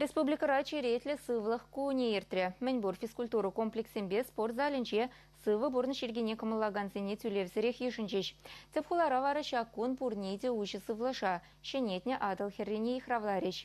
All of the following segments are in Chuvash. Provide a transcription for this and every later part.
Республикӑра черетлӗ сывлӑх кунӗ иртрӗ. Мӗнпур физкультура комплексӗнче спорт залӗнче сывӑ пурнӑҫ йӗркине кӑмӑллакансене тӳлевсӗрех йышӑнчӗҫ. Тӗп хулара вара ҫак кун пурне те уҫӑ сывлӑша, ҫӗнетнӗ Атӑл хӗррине йыхравларӗҫ.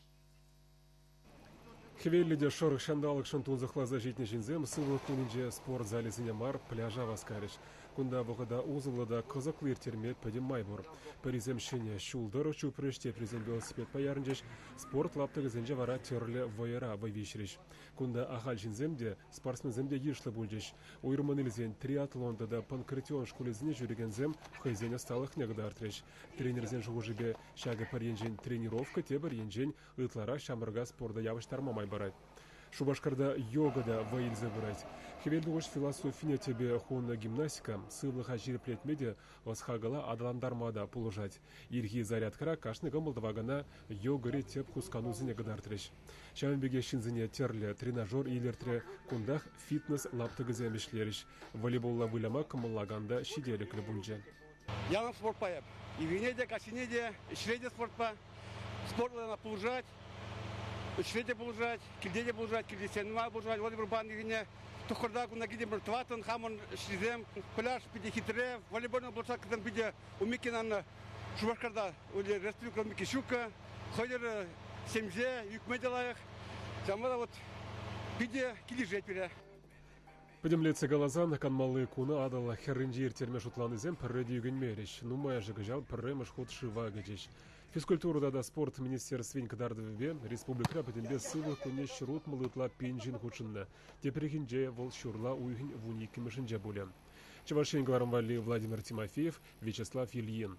Хӗвеллӗ те шӑрӑх ҫанталӑкшӑн тунсӑхласа ҫитнӗ ҫынсем сывлӑх кунӗнче спорт залӗсене мар, пляжа васкарӗҫ. Кунта вӑхӑта усӑллӑ та кӑсӑклӑ ирттерме пӗтӗм май пур. Пӗрисем ҫӗнӗ ҫул тӑрӑх чупрӗҫ, теприсем велосипедпа ярӑнчӗҫ, спорт лаптӑкӗсенче вара тӗрлӗ вӑйӑра вӑй виҫрӗҫ. Кунта ахаль ҫынсем те, спортсменсем те йышлӑ пулчӗҫ. Уйрӑммӑн илсен триатлон тата панкратион шкулӗсене ҫӳрекенсем хӑйсен ӑсталӑхне кӑтартрӗҫ. Тренерсен шухӑшӗпе, ҫакӑ пӗр енчен тренировка тепӗр енчен ытларах ҫамрӑка спорта явӑҫтарма май парать. Шупашкарта йога та вӑй илсе пырать. Хӗвелтухӑҫ философине тӗпе хунӑ гимнастика сывлӑха ҫирӗплетме те, ӑс-хакӑла аталантарма та пулӑшать. Ирхи зарядкӑра кашни кӑмӑл тӑвакана йогӑри тӗп хусканусене кӑтартрӗҫ. Ҫавӑн пекех ҫынсене тӗрлӗ тренажер илӗртрӗ, кунтах фитнес лаптӑкӗсем ӗҫлерӗҫ. Волейболла выляма кӑмӑллакан та ҫителӗклӗ пулчӗ. ялан спортпа эп. Ивине те, каҫине те, ӗҫре те спортпа. Спортла она пулӑшать, ӗҫре те пулӑшать, килте те пулӑшать, килти сенма пулӑшать, волейболпа ирхине тухкӑрта кунта китӗмӗр тӑваттӑн хамӑн ӗҫрисем. Пляж питӗ хитре, волейболна площадкӑсем питӗ Умикинан Шупашкарта уже Республика Микищука, хӑйӑр семье, ӳкме те лайӑх. Ҫавӑнпа та вот питӗ килӗшет пире. Пӗтӗмлетсе каласан, канмалли куна Атӑл хӗрринче ирттерме шутланисем пӗрре те ӳкӗнмерӗҫ. Нумайӑшӗ кӑҫал пӗрремӗш хут шыва кӗчӗҫ. Физкультура тата спорт министерствин кӑтартӑвӗпе республикӑра пӗтӗмпе сывлӑх кунне ҫӗр утмӑллӑ ытла пин ҫын хутшӑннӑ. Тепрехинче вӑл ҫурла уйӑхӗн вун иккӗмӗшӗнче пулӗ. Чӑваш Ен кӑларӑм валли Владимир Тимофеев, Вячеслав Ильин.